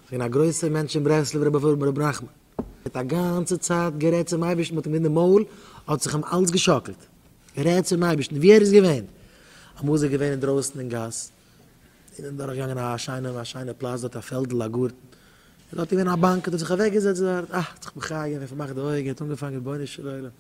כ'בין א גרויסער מענטש אין ברסלב רבי פון רבי נחמן האט א גאנצע צייט גערעדט צום אייבערשטן מ'האט אים גענומען אין מויל האט זיך אים אלץ געשאקלט גערעדט צום אייבערשטן ווי ער איז געווען אמאל איז ער געווען אינדרויסן אין גאס און דורך געגאנגען א שיינע א שיינע פלאץ דארט א פעלדל א גארטן און דארט איז געווען א באנק האט ער זיך אוועק געזעצט דארט אה האט זיך מחיה געווען פארמאכט די אויגן האט אנגעפאנגען רבונו של עולם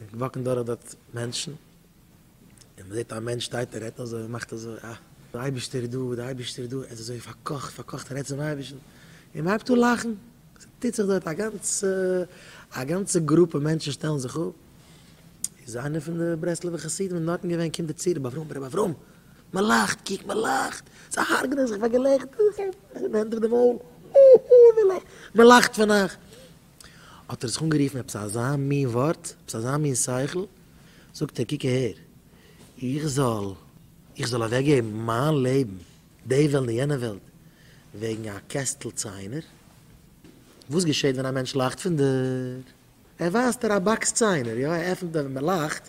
און וואקן דורך דארט מענטשן, און מען זעט א מענטש שטייט און רעדט אזוי און מאכט אזוי, אה, דער אייבערשטער איז דא, דער אייבערשטער איז דא, ער איז אזוי פארקאכט, פארקאכט און רעדט צום אייבערשטן, און מען הייבט אן לאכן, ס'טוט זיך דארט א גאנצע, א גאנצע גרופע מענטשן שטעלן זיך אפ, איז איינער פון די ברסלב'ע חסידים ווען דארטן געווען, קומט ער צו רבי אברהם, רבי אברהם, מען לאכט, קוק מען לאכט, זיי הרג'נען זיך פאר געלעכטער, זיי האבן הענט אויף די מויל, אה, אה, מען לאכט פון אייך. האט ער זיך אנגערופן עפעס אזא מין ווארט, עפעס אזא מין שכל, זאגט ער קוק אהער, איך זאל, איך זאל אוועק געבן מיין לעבן, די וועלט און יענע וועלט, וועגן א קעסטל ציינער? וואס געשעט ווען א מענטש לאכט פון דיר? ער ווייזט איר א באקס ציינער, יא ער עפענט און ווען מען לאכט,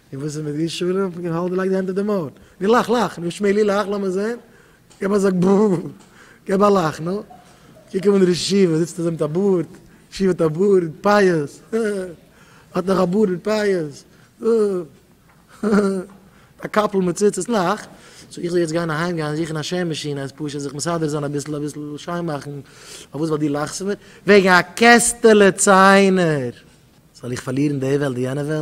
און וואס איז מיט דיר שלום? און האלט געלייגט די הענט אויף די מויל. נו לאך לאך. נו שמעילי לאך לאמיר זעהן. געב א זאג בא. געב א לאך נו. קוק אים אן דער ישיבה זיצט אזוי מיט א בארד. ישיבה האט א בארד. פייעס. הא הא. האט נאך א בארד מיט פייעס. הא הא. א קאפל מיט ציצית. לאך. סאו איך זאל יעצט גיין אהיים גיין זוכן א שער מאשין אז פשוט זיך מסדר זיין אביסל אביסל שיין מאכן. פארוואס ווייל דו לאכסט מיר וועגן א קעסטעלע ציינער זאל איך פארלירן די וועלט די יענע וועלט?